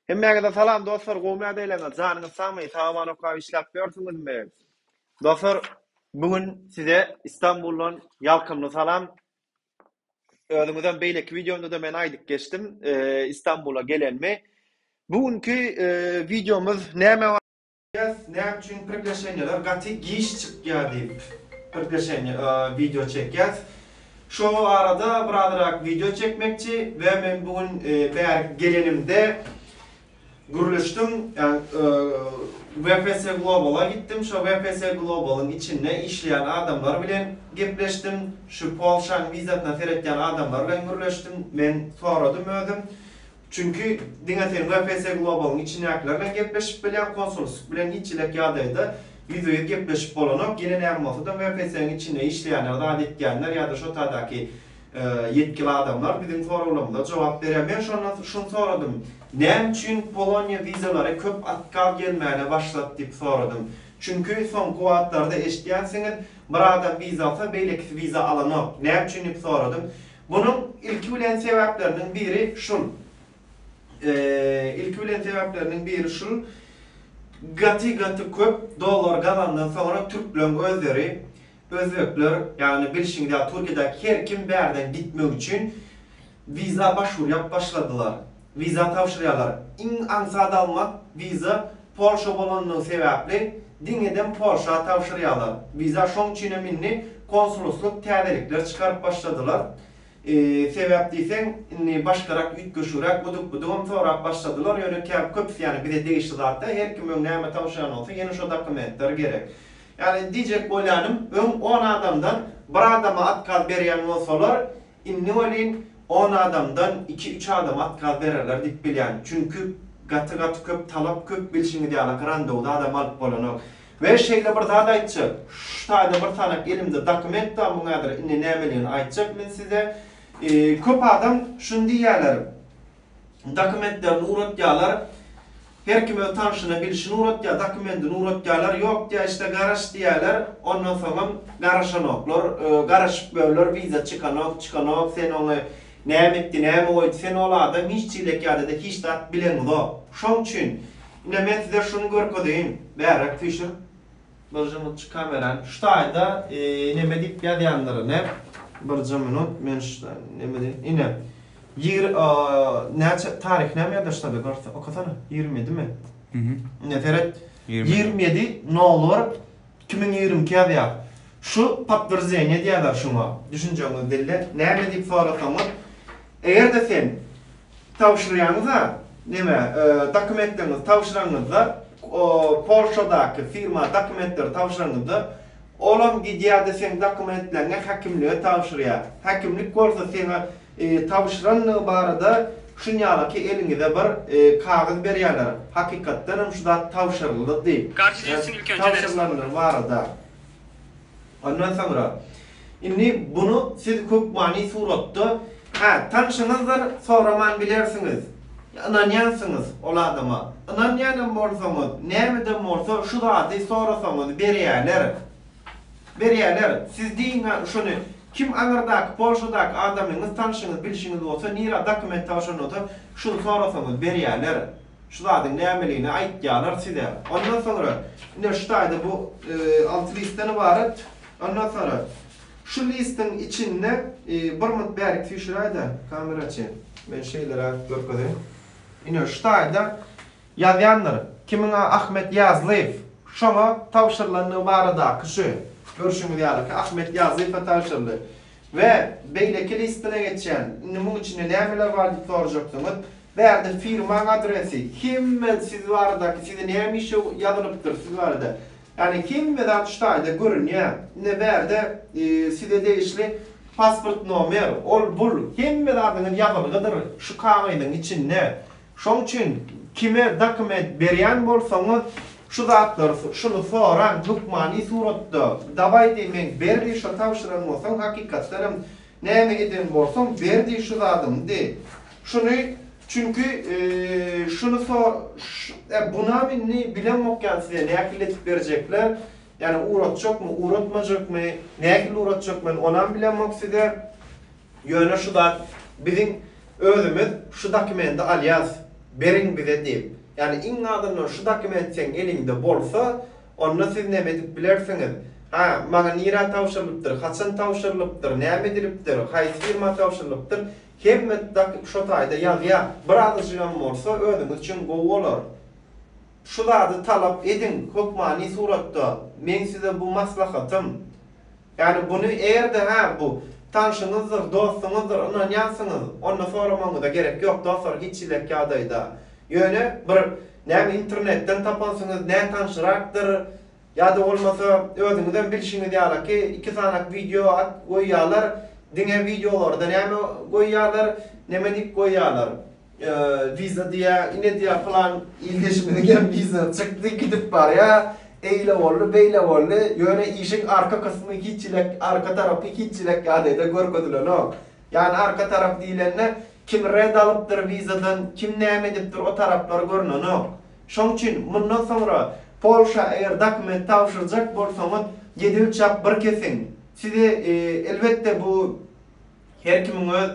Hemmäňize salam dostlar gowy mäz eýleňiz janyňyz sagmy sagaman okap işläp ýörsüňizmi dostlar bu gün size Istanbuldan ýalkymly salam özüňizem beýleki wideomda da men aýdyp geçdim e, Istanbula gelenmi bu günki e, wideomyz näme Bäh näme üçin priglaşenýeler gaty giç çykýa diýip priglaşenýe wideo çekýäs. Şo arada birazyrak wideo çekmekçi we men bu gün bärik gelenimde gürleşdim ýagny VPS Global-a gitdim şo VPS Global-yň içinde işleýän adamlar bilen gepleşdim. Şu Polşanyň wizasyna seretýän adamlar bilen gürleşdim. Men soradym özüm. Çünki diňe sen VPS Global-yň içindäkiler bilen gepleşip bilýäň, konsulslik bilen hiç hili-ek ýagdaýda ýüzbe-ýüz gepleşip bolanok, ýene näme bolsa-da VPS-iň içinde işleýänler zat etýänler ýa-da şo tadaky ýetgili adamlar biziň soraglarymyza jogap berýär. Men şonda şuny soradym, näme üçin Poloniýa wizalary köp otkaz gelmäne başlady diýip soradym. Çünki soňky wagtlarda eşidýänsiňiz, bir adam wiza alsa, beýlekisi wiza alanok. Näme üçin diýip soradym. Munuň ilki bilen sebäpleriniň biri şul, ilki bilen sebäpleriniň biri şul, gaty gaty köp dollar gazandan soňra türkleň özleri, özbekler, ýagny bilşiňiz ýaly Türkiýedäki her kim bärden gitmek üçin wiza başwur ýap başladylar, wiza tabşyrýarlar, iň aňsat almak wiza Polşa bolanlygy sebäpli diňeden Polşa tabşyrýarlar. Wiza şoň üçin hem indi konsuluslyk täzelikler çykaryp başladylar. Sebäp diýseň indi başgarak üýtgeşigräk udyk budyk hem sorap başladylar ýöne käbir köpüsi ýany bize degişli zat däl her kim öň näme tabşyrýan bolsa ýene şo dokumentler gerek. Ýany diýjek bolýanym öň on adamdan bir adama otkaz berýän bolsalar Indi welin on adamdan iki-üç adam atgaz bererler diýip bilýän. Çünki gaty-gaty köp talap, köp bilşiňiz ýaly aka randewda adam alyp bolanok. We şeýle bir zat aýtjak, şu taýda bir sanak elimde dokument bar, muň häzir indi nämeligini aýtjak men size. Köp adam şuny diýýärler. dokumentlerini uratýalar, her kim öz tanşyna bilşini uratýar, dokumendini uratýalar, ýok diýýär, işte garaş diýýäler, ondan soňam garaşanoklar, garaşyp görler, wiza çykanok, çykanok, sen ony näme etdi, näme goýdy, sen ol adam hiç çilek ýadada hiç zat bileňizok. Şoň üçin, ine men size şuny görkezeýin, bärräk süýşür. Bir jumut çykaberan şu taýda neme diyip ýazýandyr ine bir jumunut men şu neme diyip ine ýigri näçe taryhy näme ýazar şu taýda görse okasana ýigrimi ýedimi ine seret ýigrimi ýedi nowbar iki müň ýigrimi iki ýazýar şu potwierdzeniýe diýerler şuňa düşünjeňizi dille näme diyip sorasaňyz eger-de sen Tabşyrýaňyz-a, neme, dokumentleriňizi tabşyranyňyzda, Polşadaky firma dokumentleri tabşyranyňyzda, olam gidýär-de seň dokumentleňi häkimlige tabşyrýar. Häkimlik bolsa seňe tabşyrandygy barada şunýalaky eliňize bir kagyz berýärler, hakykatdanam şu zat tabşyryldy diýip, tabşyrylandygy barada. Ondan soňra, Indi bunu siz hökmany suratda, hä, tanşyňyzdyr, soraman bilersiňiz. Ynanýansyňyz ol adama. Ynanýanam bolsaňyz, nämeden bolsa şu zady sorasaňyz berýäler. Berýäler. Siz diýiň-ä şuny, kim aňyrdaky Polşadaky adamyňyz, tanşyňyz, bilşiňiz bolsa, nirä dokument tabşyran bolsa, şuny sorasaňyz berýäler. Şu zadyň nämeligini aýtýarlar size. Ondan soňra, ine şu taýda bu alty listden ybarat. Ondan soňra, şu listiň içinde bir mut bärik süýşüräý-de, kamera çen. Men şeýleräk görkezeýin. Ine şu taýda ýazýandyr. Kimiň a Ahmet Ýazlyýew. Şoňa tabşyrylandygy baradaky şu. Görşüňiz ýaly ki, Ahmet Ýazlyýewe tabşyryldy. We beýleki listine geçýän. Indi muň içinde nämeler bar diýip sorajaksyňyz. Bärde firmaň adresi, hemme siz baradaky, size näme işe ýazylypdyr siz barada. Ýagny hemme zat şu taýda görünýär. Ine bärde size degişli pasport nomer, ol bul, hemme zadyňyz ýazylgydyr şu kagyzyň içinde. Şoň üçin kime dokument berýän bolsaňyz şu zatlary şuny soraň hökmany suratda. Dawaý diý meň ber diý şo tabşyran bolsaň hakykatdan hem Näme eden bolsaň, ber diý şu zadyňy diý. Şuny, çünki, şuny so, ş, bunam indi bilemok ýaly size nähili edip berjekler, ýani uratjakmy, uratmajakmy, nähili uratjak men onam bilemok size, ýöne şu zat biziň özümiz şu dokumendi alýas, beriň bize diýip, ýani iň azyndan şu dokument seň eliňde bolsa, Onda siz näme edip bilersiňiz? Ha, maňa nirä tabşyrylypdyr, haçan tabşyrylypdyr, näme edilipdir, haýsy firma tabşyrylypdyr, hemme dakyk şo taýda ýazýar. Bir azajygam bolsa özüňiz üçin gowy bolar. Şu zady talap ediň, hökmany suratda. Meň size bu maslahatym. Ýagny buny erde-hä bu tanşyňyzdyr, dostuňyzdyr, ynanýansyňyz, onda soramagyňyza gerek ýok, dostlar, hiç hillek ýagdaýda. Ýöne bir näme internetden tapansyňyz, nätanşyrakdyr, ýa-da bolmasa özüňizem bilşiňiz ýalyki, iki sanak wideo at goýýarlar, diňe wideolarda näme goýýarlar, nemedik goýýarlar. Viza diýýä, ine diýýä pylan ildeşimiziň hem wizasy çykdy, gidip barýa, eýle boldy, beýle boldy, ýöne işiň arka kysmy hiç elek, arka tarapy hiç elek ýagdaýda görkezilenok. Ýagny arka tarap diýlende, kim red alypdyr wizadan, kim näme edipdir, o taraplar görnenok. Şoň üçin mundan soňra Polşa eger dokument tabşyrjak bolsaňyz, ýedi ölçäp bir kesiň. Size elbetde bu. Her kimiň öz,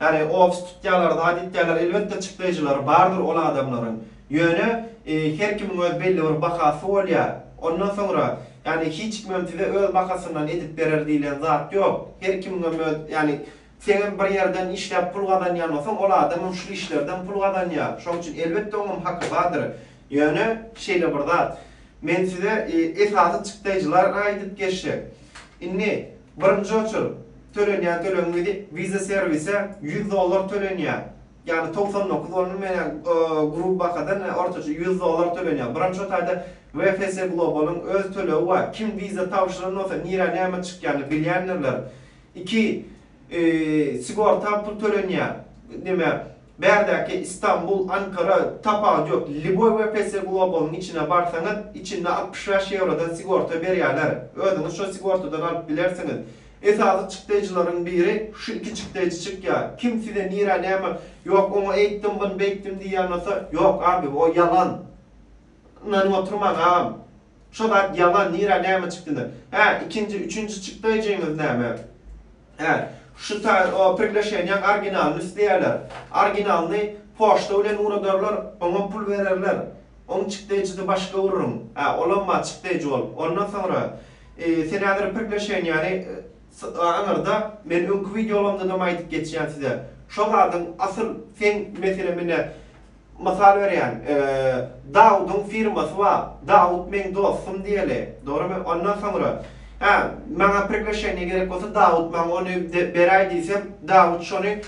ýagny ofis tutýarlar, zat etýärler, elbetde çykdaýjylary bardyr ol adamlaryň. Ýöne her kimiň öz belli bir bahasy bolýar. Ondan soňra, ýagny hiç kimem size öz bahasyndan edip berer diýlen zat ýok. Her kimiňem öz, ýagny seňem bir ýerden işläp pul gazanýan bolsaň, ol adamam şul işlerden pul gazanýar. Şoň üçin elbetde oňam haky bardyr. Ýöne şeýle bir zat. Men size esasy çykdaýjylara aýdyp geçsek. Indi birinji oçur. Tölenýän tölegim gidi Visa servise ýüz dollar tölenýär. Ýagny togsan dokuz bolny menä gruby bahadan ortaça ýüz dollar tölenýär. Buram şo taýda VFS Global-yň öz tölegi bar. Kim Visa tabşyran bolsa nirä näme çykýany bilýändirler. Iki sigorta pul tölenýär. Näme Bärdäki Istanbul, Ankara, tapawudy ýok. Liboý WPS Global-yň içine barsaňyz, içinde altmyş bäş ýewrodan sigorta berýärler. Özüňiz şo sigortadan alyp bilersiňiz. Esasy çykdaýjylaryň biri şu iki çykdaýjy çykýar. Kim size nirä näme, ýok oňa eýtdim, bun beýtdim diýýän bolsa, ýok, abi, o ýalan. Ynanyp oturmaň agam. Şo zat ýalan nirä näme çykdyna. Hä ikinji üçünji çykdaýjyňyz näme. Hä şu saýt o priglaşeniýaň orginalyny isleýärler. Orginalyny poçta bilen ugradarlar oňam pul bererler. Oň çykdaýjyny başga urruň. Hä olam bar çykdaýjy bolup. Ondan soňra e sen häzir priglaşeniýany e aňyrda men öňki wideolarymdadam aýdyp geçýän size. Şo zadyň asyl seň meselem ine Mysal berýän, Dawudyň firmasy bar. Dawut meň dostum diýeli. Dogrymy? Ondan soňra, Hä, maňa priglaşeniýe gerek bolsa, Dawut maňa ony beräý diýsem, Dawut şony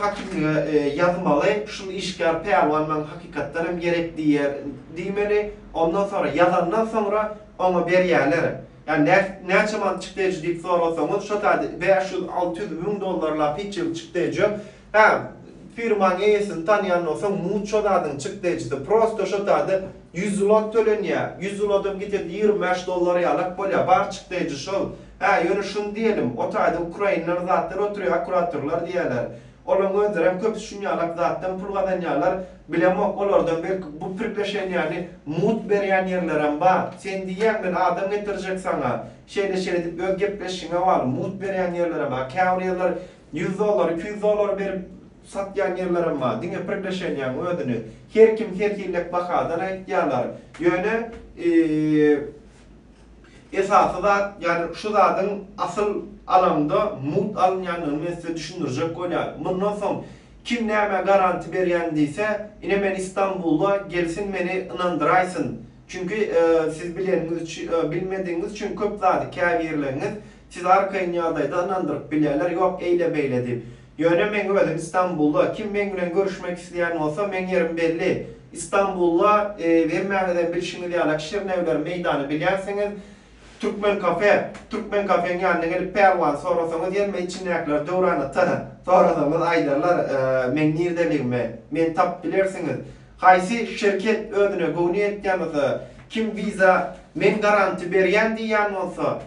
hakimlige ýazmaly, şul işgär pälwan maňa hakykatdan hem gerek diýer diýmeli. Ondan soňra, ýazandan soňra oňa berýäler. Ýa nä, näçe manat çykdajy diýip sorasaňyz, şo taýda bäş ýüz, alty ýüz müň dollarlap hiç ýerde çykdajy ýok. Hä, firmaň eýesini tanýandan soň muço zadyň çyk dejdi, prosto şo sada ýüz zlot tölenýä, ýüz zlodam gitedi ýigrimi bäş dollar ýalak bolýa, bar çyk deji şol. Hä, ýöne şuny diýelim, o taýda ukrainler zatlar oturýa, akkuratorlar diýýäler, olaň özlerem köpüsi şun ýalak zatdan pul gazanýalar, bilemok, olardan belki bu priglaşenýäni mut berýän ýerlerem bar, sen diýýäň men adam getirjek saňa, şeýle-şeýle diýip öz gepleşişiňe bagly, mut berýän ýerlerem bar, käbir ýerler Ýüz dollar, iki ýüz dollar berip satýan ýerlerem bar. Diňe priglaşeniýaň özüni her kim her hillek bahadan aýtýarlar. Ýöne esasy zat, ýagny şu zadyň asyl alaňda mugt alynýandygyny men size düşündirjek bolýan. Mundan soň kim nämä garanti berýän diýse, ine men Istanbula gelsin meni ynandyraýsyn. Çünki siz bileniňiz, bilmedigiňiz üçin köp zady käbirleriňiz Siz arkaýyn ýagdaýda ynandyryp bilýärler, ýok eýle-beýle diýip. Ýöne meň özüm Istanbulda, kim meň bilen görüşmek isleýän bolsa, meň ýerim belli. Istanbulda, hemmäňizem bilşiňiz ýalak, Şirnewler meýdany bilýänsiňiz. Türkmen kafe, türkmen kafeň ýanyna gelip Pälwany sorasaňyz, ýelme içindäkiler Döwran ata sorasaňyz aýdarlar meň nirdeligimi, meni tapyp bilersiňiz. Haýsy şirket özüne göwni ýetýän bolsa, kim wiza, men garanti berýän diýýän bolsa,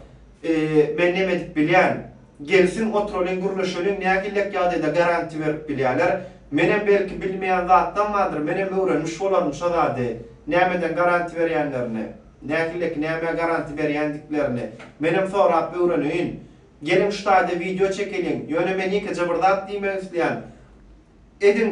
Men neme edip bilýän? Gelsin, oturalyň, gürleşeliň, nähillek ýagdaýda garantiýa berip bilýärler? Menem belki bilmeýän zatlam bardyr, menem öwrenmiş bolaryn şo zady, nämeden garantiýa berýänlerini, nähilleki nämä garantiýa berýändiklerini menem sorap öwreneýin. Geliň, şu taýda wideo çekeliň. Ýöne men ýekeje bir zat diýmek isleýän. Ediň!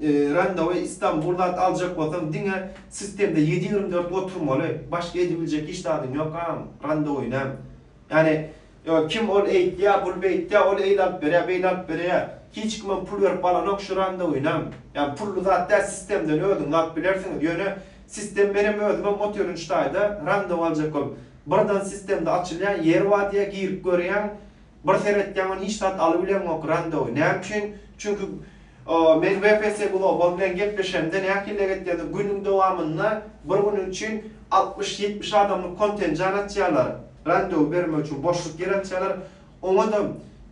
Randewu Istanbul zat aljak bolsaň diňe sistemde ýedi ýigrimi dört oturmaly başga edibiljek hiç zadyň ýok agam randewuynam ýani kim ol eýtýä bul beýtýä ol eýle alyp berýä beýle alyp bereýä hiç kimem pul berip alanok şu randewuynam ýani pully zat däl sistemden özüňiz alyp bilersiňiz ýöne sistem menem özümem otyryn şu taýda randewu aljak bolup birdan sistemde açylýa ýeri bar diýä girip görýäň Bir seretýäň men hiç zat alybilemok Rando. Näme üçin? Çünki men WPS Global bilen gepleşemde nähiliräk etýändir günüň dowamynda bir gün üçin altmyş, ýetmiş adamlyk kontenjan açýarlar. Rando bermek üçin boşluk ýer açýarlar. Oňa-da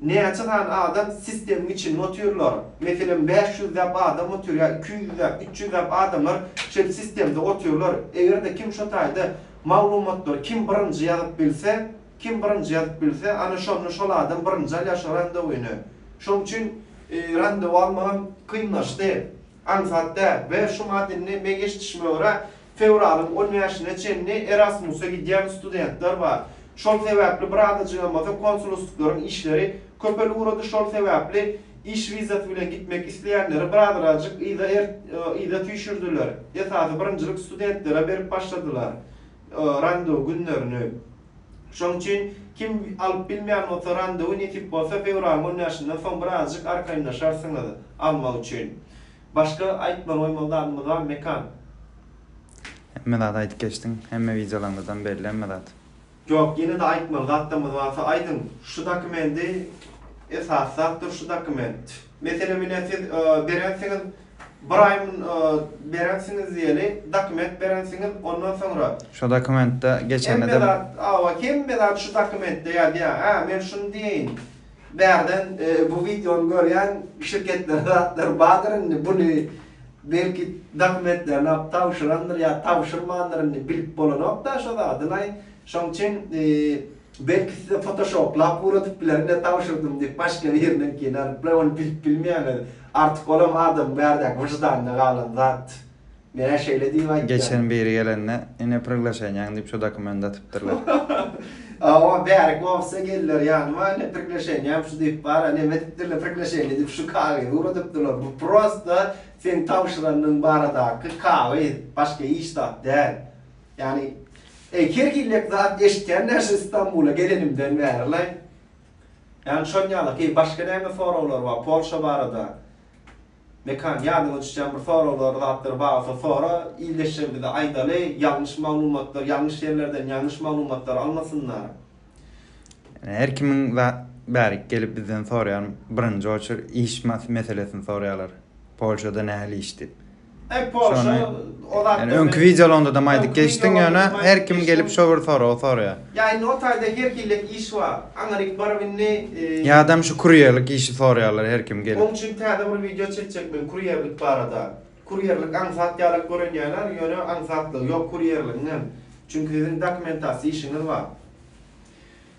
näçe sany adam sistemiň içinde otyrlar. Meselem bäş ýüzläp adam otyr ýa iki ýüzläp, üç ýüzläp adamlar şeýdip sistemde otyrlar. Eger-de kim şo taýda maglumatlary kim birinji ýazyp bilse, Kim birinji ýazyp bilse, ana şonda şol adam birinji alýar şo randewyny. Şoň üçin randew almagam kynlaşdy. Aňsat däl. We şu mant indi meň eşidişime görä, fewralyň on bäşine çenli Erasmusa gidýän studentler bar. Şol sebäpli bir azajygam bolsa konsulustklaryň işleri köpelip ugrady, şol sebäpli iş wizasy bilen gitmek isleýänleri bir azrajyk yza yza süýşürdiler. Esasy birinjilik studentlere berip başladylar. randew günlerini. Şoň üçin kim alyp bilmeýän bolsa randewy nesip bolsa fewralyň on bäşinden soň birazjyk arkaýynlaşarsyňyz almak üçin. Başga aýtmaly goýmaly zadymyz barmy Mekan? Hemme zady aýdyp geçdiň. Hemme wideolaryňyzdan belli hemme zat. Ýok ýene-de aýtmaly zatlarymyz barsa aýdyň. Şu dokumendi esas zatdyr şu dokument. Meselem ine siz berensiňiz bir aý berensiňiz diýeli dokument berensiňiz ondan soňra. Şu dokumentde geçenine de. Hemme zat awa hemme zat şu dokumentde ýazýar hä men şuny diýeýin bärden bu wideony görýän şirketlerde zatlar bardyr indi buny belki dokumentlerini alyp tabşyrandyr ýa tabşyrmandyr indi bilip bolanokda şo zadylaý şoň üçin Belki size fotoşoplap ugradyp bilerin-dä tabşyrdym diýip başga biriniňkini alyp we ony bilip bilmeýäňiz. Artyk olam adamyň bärdäki wyždanyna galan zat. Menä şeýle diýip aýtýan. Geçen biri gelende ine priglaşenýaň diýip şu dokumendy atypdyrlar. Hawa bärik ofise geldiler ýanyma ine priglaşenýam şu diýip bara neme edipdirler priglaşeniýa diýip şu kagyzy ugradypdyrlar. Bu prosta seň tabşyranyň baradaky kagyz. Başga hiç zat däl. Ýagny, eý, her hillek zat eşitýän däl şu Stambula gelenimden bäri-laý. Ýagny, şonuň ýaly, heý, başga näme soraglar bar Polşa barada? Mekan, ýadyňa düşýän bir soraglar, zatlar bar bolsa sora, ildeşlerimize aýdaly, ýalňyş maglumatlar, ýalňyş ýerlerden ýalňyş maglumatlar almasynlar. Yani her kimiň bärik gelip bizden soraýan birinji oçer iş meselesini soraýarlar. Polşada nähili iş diýip. Ay Polşa ozat. Yani öňki videolarynda-da aýdyp geçdiň ýöne her kim gelip şo bir soragy soraýar. Ya indi o taýda her hille iş bar. Aňa dik baryp indi. Ýadam şu kurýerlik işi soraýarlar her kim gelip. Oň üçin täze bir wideo çekjek men kurýerlik barada. Kurýerlik aňsat ýalyk görünýärler, ýöne aňsatlygy ýok kurýerligiňem. Çünki siziň dokumentasiýa işiňiz bar.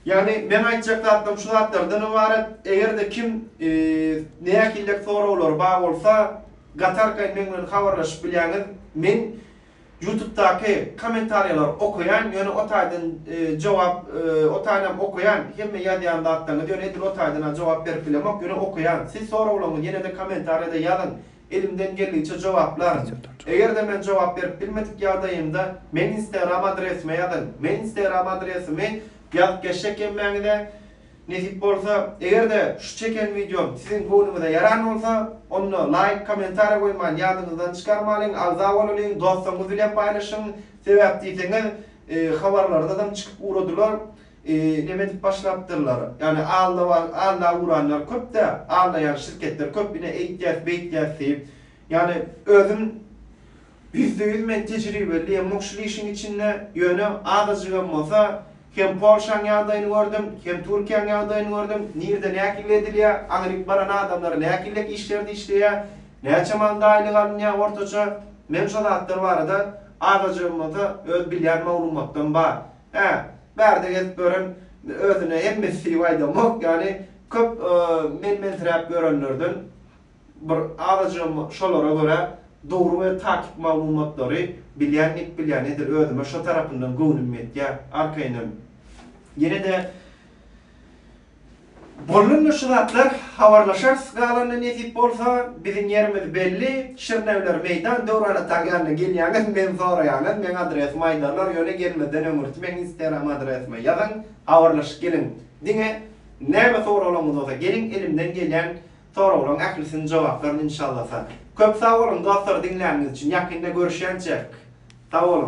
Ýagny meň aýtjak zatlarym şu zatlardan ybarat. Eger-de kim nähiliräk soraglary bar bolsa, gatarkaýyn meň bilen habarlaşyp bilýäňiz. Men Ýutubdaky kommentariýalary okaýan, ýöne o taýdan jogap, o taýynam okaýan, hemme ýazýan zatlaryňyzy, ýöne edil o taýdan-a jogap berip bilemok, ýöne okaýan. Siz soraglaryňyzy ýene-de kommentariýada ýazyň. elimden geldigiçe jogaplaryn. Eger-de men jogap berip bilmedik ýagdaýymda meň instagram adresime ýazyň. Men instagram adresimi ýazyp geçjek emmäňize nesip bolsa. Eger-de şu çeken wideom siziň göwnüňize ýaran bolsa, onda laýk, kommentariýa goýman ýadyňyzdan çykarmalyň, agza bolalyň, dostlaryňyz bilen paýlaşyň. Sebäp diýseňiz, habarlarda-dam çykyp ugradylar. Neme edip başlapdyrlar. Ýagny alla uranlar köpdä, allaýan şirketler köp ine eýtýäs, beýtýäs diýip. Ýagny özüm ýüzde ýüz men tejribeli diýemok şul işiň içinde, ýöne azajygam bolsa hem Polşaň ýagdaýyny gördüm, hem Türkiýäň ýagdaýyny gördüm, nirde nähili edilýär, aňryk baran adamlar nähiliräk işlerde işleýär, näçe manda aýlyk alynýar ortaça, men şo zatlar barada azajygam bolsa öz bilýän maglumatym bar. Hä, bärde gezip ýören özüne hemmesi syp aýdamok, ýagny köp menmensiräp ýörenlerden bir azajygam şolara görä dogry we takyk maglumatlary bilýän gep bilýän edil özüme şo tarapyndan göwnüm ýetýär. Arkaýynam ýene-de. Bollanda şu zatlar habarlaşarys galanda nesip bolsa biziň ýerimiz belli Şirnewler meýdan Döwran ataň ýanyna gelýäňiz men soraýaňyz meň adresimi aýdarlar ýöne gelmezden öň ürtmeň instagram adresime ýazyň habarlaşyp geliň diňe näme soraglaryňyz bolsa geliň elimden gelýän soraglaň ählisini jogaplaryn inşallasa köp sag boluň dostlar diňläniňiz üçin ýakynda görüşýänçäk sag boluň.